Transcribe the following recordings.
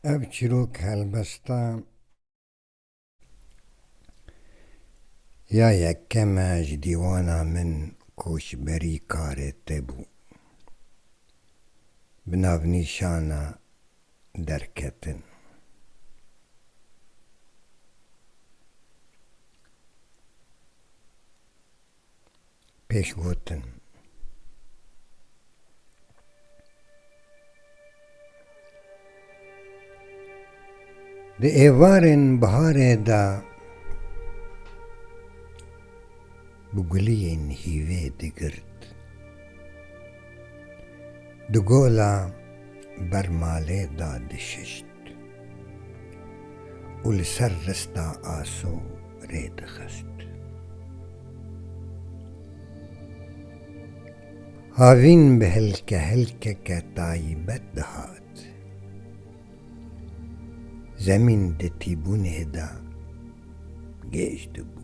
Ev çîrok helbesta ya yekem e ji dîwana min koçberî karê te bû. Bi navnîşana Derketin. pêş gotin. Di êvarên biharê de bi guliyên hîvê digirt. Di gola ber malê da dişişt û li ser rista aso rê dixist. Havîn bi hilkehilkeke tayîbet dihat. Zemîn di tîbûnê de gêj dibû.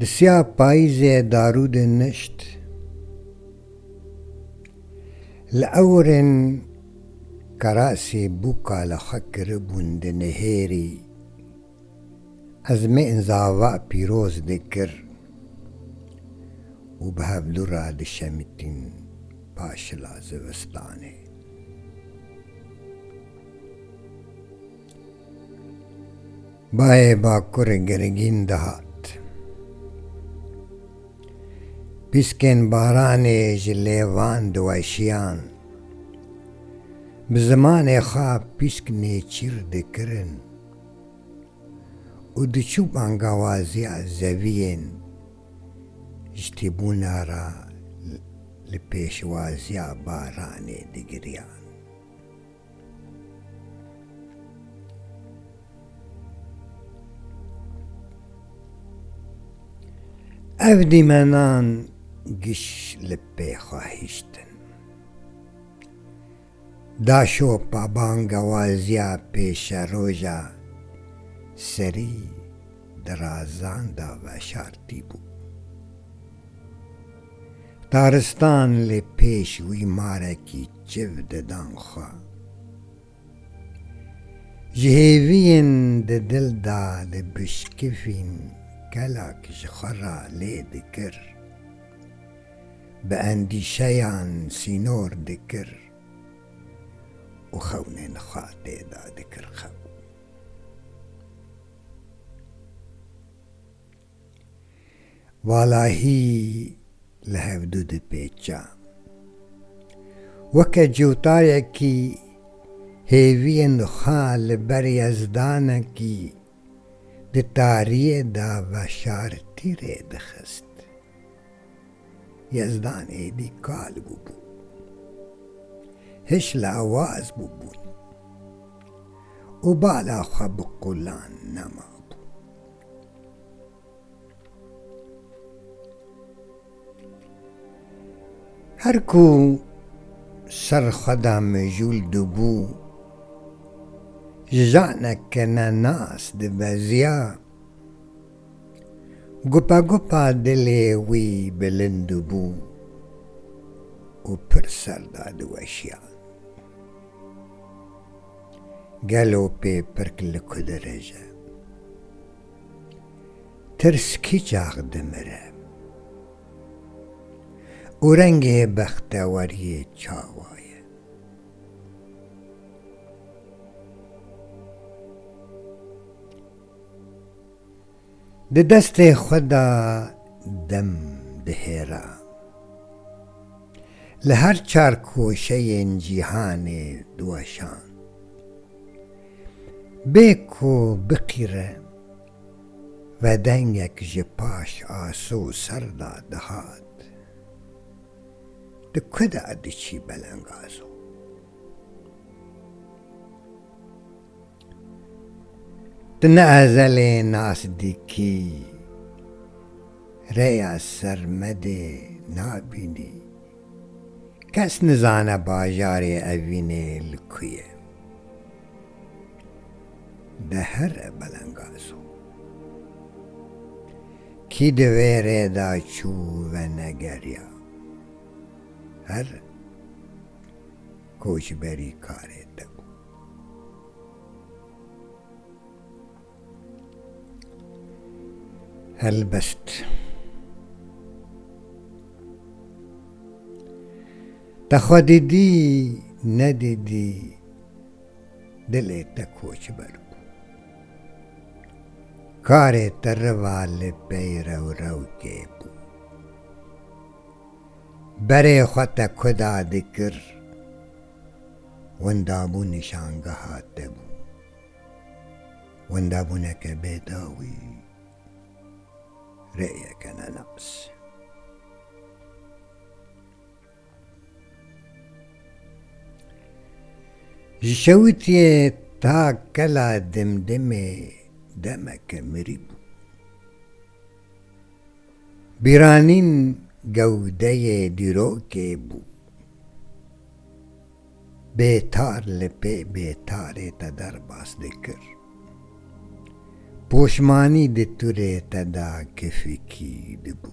Di siya payîzê darûdê nişt. Li ewirên kerasê bûka li xwe kiribûn di nihêrî. Ez mê inzava pîroz dikir û bi hevdû re dişemitîn paşila zivistanê. Bayê Bakurê girgîn dihat. Pîskên baranê ji lêvan diweşiyan. Bi zimanê xwe pîsk nêçîr dikirin û diçû bangawaziya zeviyên ji tîbûna re li pêşwaziya baranê digiriyan. Ev dîmenan giş li pê xwe hiştin. Daşopa bangewaziya pêşeroja serî Dirazan da veşartî bû. Taristan li pêş wî marekî çiv didan xwe. Ji hêviyên di dil da li bişkifîn kelak ji xwe re lê dikir. Bi endîşeyan sînor dikir û xewnên xwe tê de dikir xew. Walahî li hev du dipêça. Weke cewtayekî hêviyên xwe li ber yezdanekî di tariyê de veşartî rêdixist. Yezdan êdî kal bûbû. Hiş lawaz bûbûn. Û bala xwe bi qulan nemabû. Her ku ser xwe da mijûl dibû, ji canek ke ne nas dibeziya, Gupagupa dilê wî bilind bû û pir ser da diweşiya. Gelo pê pirk li ku dirije? Tirs kî çax dimire? Û rengê bexteweriyê çawa ye? Di destê xwe de dem dihêra. Li her çar koşeyên cîhanê diweşand. Bê ku biqîre vedengek ji paş aso û ser de dihat. Di ku de diçî belengazo. Tu ne ezelê nas dikî, rêya sermedê nabînî. Kes nizane bajarê evînê li ku ye. De here belengaz o. Kî di vê rê de çû venegeriya. Her koçberî karê te bû. Helbest. Te xwe dîdî nedîdî dilê te koçber bû. Karê te riva li pey rewrewkê bû. Berê xwe te kuda dikir Winda bû nîşangeha te bû. Winda bûneke bê dawî, rêyeke nenas. Ji şewitiyê ta kela dimdimê demeke mirî bû. Bîranîn gewdeyê dîrokê bû. Bêtar li pê bêtarê te derbas dikir. Poşmanî di turê te de kifikî dibû.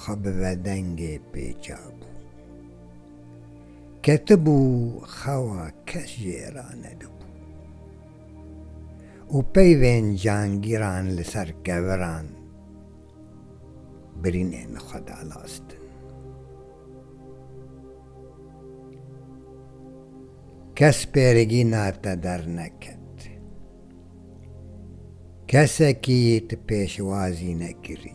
xwe bi vedengê pêça bû. Ketibû xewa kes jê re nedibû û peyvên cangîran li ser keviran birînên xwe dalastin. Kes pêrigîna te derneket. Kesekî te pêşwazî nekirî.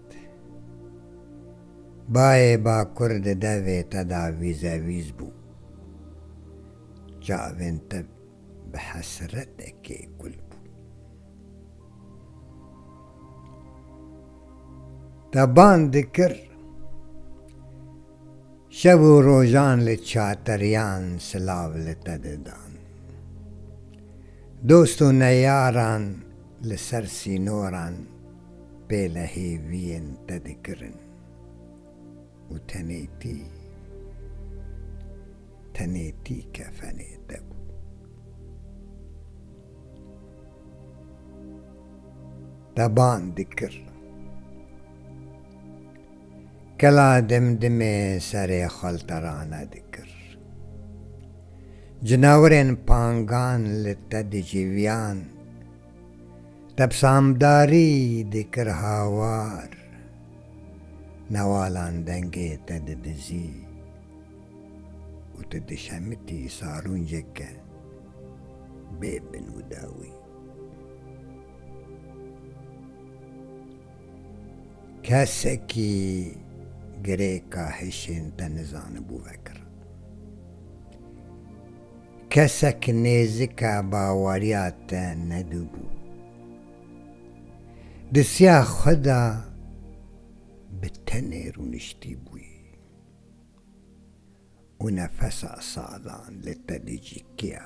Bayê bakur di devê te de vîzevîz bû. Çavên te bi hesretekê kul bûn. Te bang dikir, şev û rojan li çateriyan silav li te didan. Dost û neyaran li ser sînoran. Pêle hêviyên te dikirin û tenêtî, tenêtî kefenê te bû. Te ban dikir. Kela dimdimê serê xwelterane dikir. Cinawirên pangan li te dicîviyan. Tebsamdarî dikir hawar. Newalan dengê te didizî û tu dişemitî salûnceke bê bin û dawî. Kesekî girêka hişên te nizanibû vekir. Kesek nêzika baweriya te nedibû. Di siya xwe de bi tenê rûniştîbûyî û nefesa salan li te dicîkiya.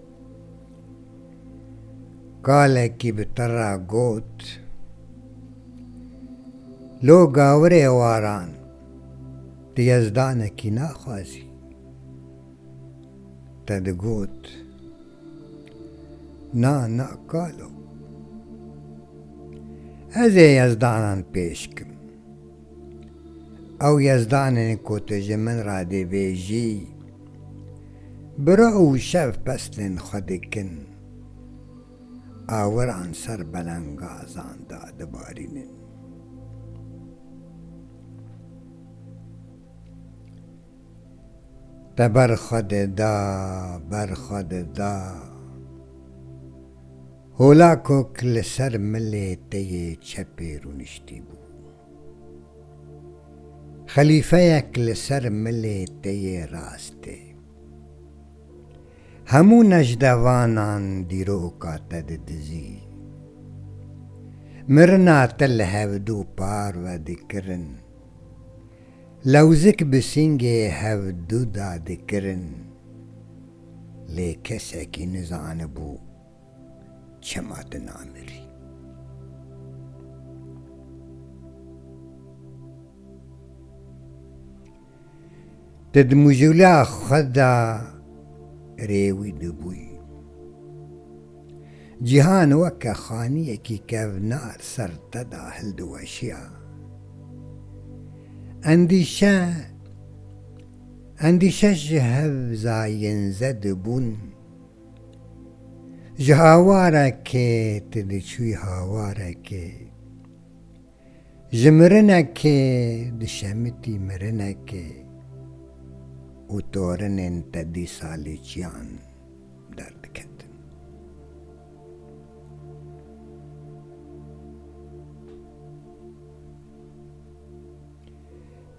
Kalekî bi tira got, Lo gawirê waran di yezdanekî naxwazî. Te digot, Na, na kalo. Ez ê yezdanan pêş kim. Ew Yezdan e ku tu ji min re dibêjî, Biro û şev peslên xwe dikin, awiran ser belengazan de dibarînin. Te ber xwe dida, ber xwe dida. Holakok li ser milê te yê çepê rûniştî bû. Xelîfeyek li ser milê te yê rastê. Hemû nejdevanan dîroka te didizî. Mirina te li hevdu parve dikirin. Lewzik bi sîngê hevdu de dikirin. Lê kesekî nizanibû çima tu namirî? Te di mujûla xwe de rê wî dibûyî. Cîhan weke xaniyekî kevnar ser te de hildiweşiya. Endîşe endîşe ji hev zayên zed bûn. Ji hawarekê tu diçûyî hawarekê, ji mirinekê dişemitî mirinekê û torinên te dîsa li çiyan derdiketin.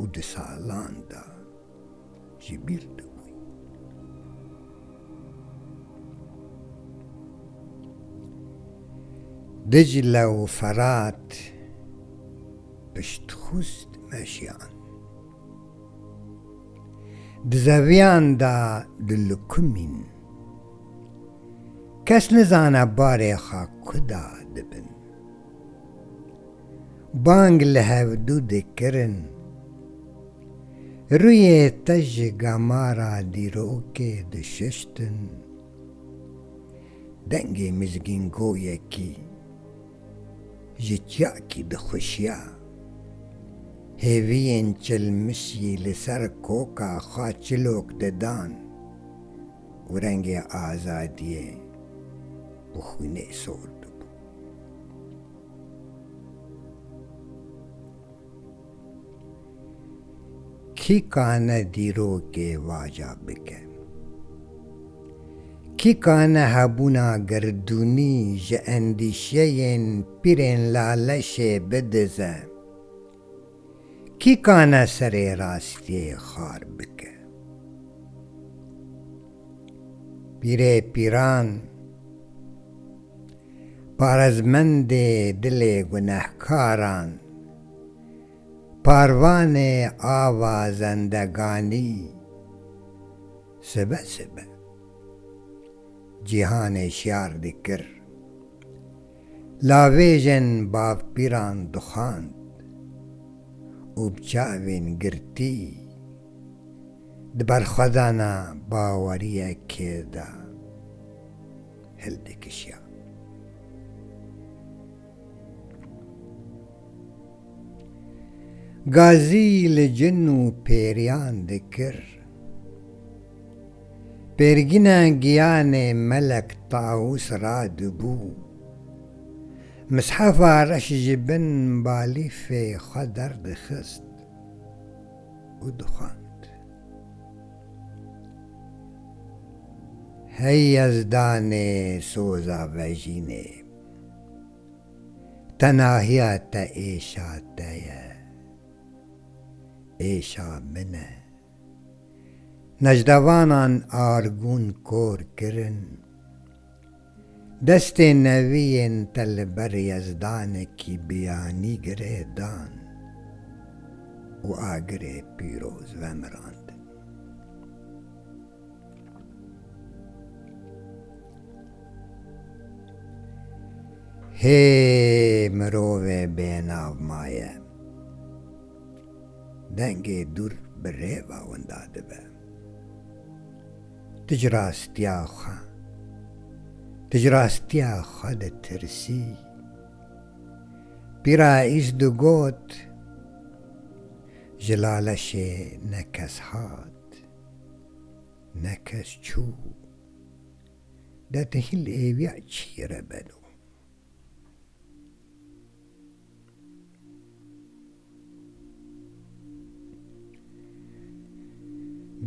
û di salan de ji bîr dibûn. Dicle û Ferat piştxwist meşiyan. Di zeviyan de dilikumîn. Kes nizane barê xwe kuda dibin. Bang li hevdû dikirin. Rûyê te ji gamara dîrokê dişuştin. Dengê mizgîngoyekî ji çiyakî dixuşiya. Hêviyên çilmişî li ser koka xwe çilok didan û rengê azadiyê bi xwînê sor dibû. Kî kane dîrokê vaca bike? Kî kane hebûna girdûnî ji endîşeyên pîrên laleşê bidize? Kî kane serê rastiyê xar bike? Pîrê pîran, parezmendê dilê gunehkaran, parvanê ava zendeganî, sibe sibe cîhanê şiyar dikir. Lavêjên bavpîran dixwand û bi çavên girtî di berxwedana baweriyekê de hildikişiyan. Gazî li cin û pêriyan dikir. Pêrgîna giyanê Melek Tawus ra dibû. Mishefa reş ji bin balîfê xwe derdixist û dixwend. Hey yezdanê soza vejînê, tenahiya te êşa te ye, êşa min e. Nejdavanan argûn kor kirin. Destê neviyên te li ber yezdanekî biyanî girê dan û agirê pîroz vemirandin. Hê mirovê bênav maye. Dengê dûr bi rêva winda dibe. Tu ji rastiya xwe, tu ji rastiya xwe ditirsî. Pîra Îz digot, Ji Laleşê ne kes hat, ne kes çû. De tu hîl êviya çî re beno?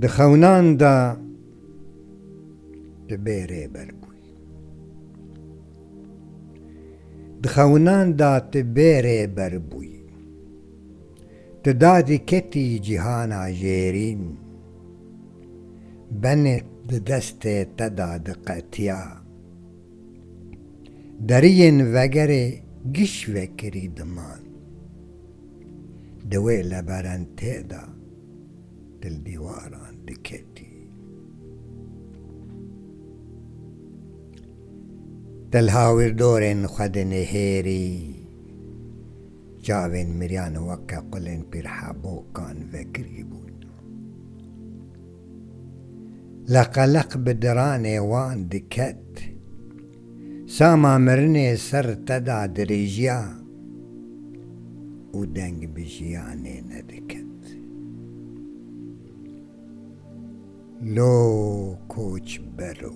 Di xewinan de tu bê rêber bûyî. Di xewinan de tu bê rêber bûyî. Tu dadî ketî cîhana jêrîn. Benê di destê te de diqetiya. Deriyên vegerê giş vekirî diman. Di wê leberentê de dildîwaran diketî. Dilhawîrdorên xwe di nêhêrî çavên miriyan weke qulên pîrhebokan vekirî bûn. Leqeleq bi diranê wan diket. Sama mirinê ser te da dirêjiya û deng bi jiyanê nediket. Lo koçber o.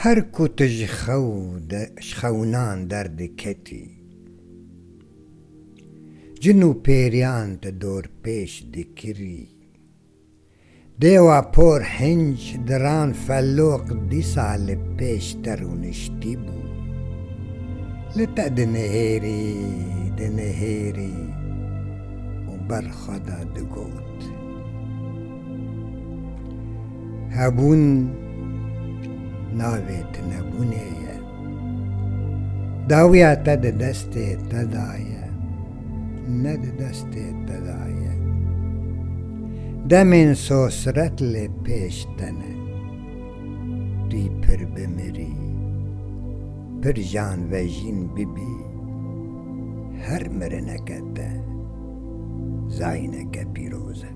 Her ku tu ji xew de ji xewinan derdiketî, cin û pêriyan te dorpêç dikirî. Dêwa por hinc diran feloq dîsa li pêş te rûniştî bû. Li te dinihêrî, dinihêrî û ber xwe de digot. Hebûn navê tu nebûnê ye. Dawiya te di destê te de ye, ne di destê te de ye. Demên sosiret lê pêş te ne. Tu yî pir bimirî, pir janvejîn bibî. Her mirineke te zayîneke pîroz e.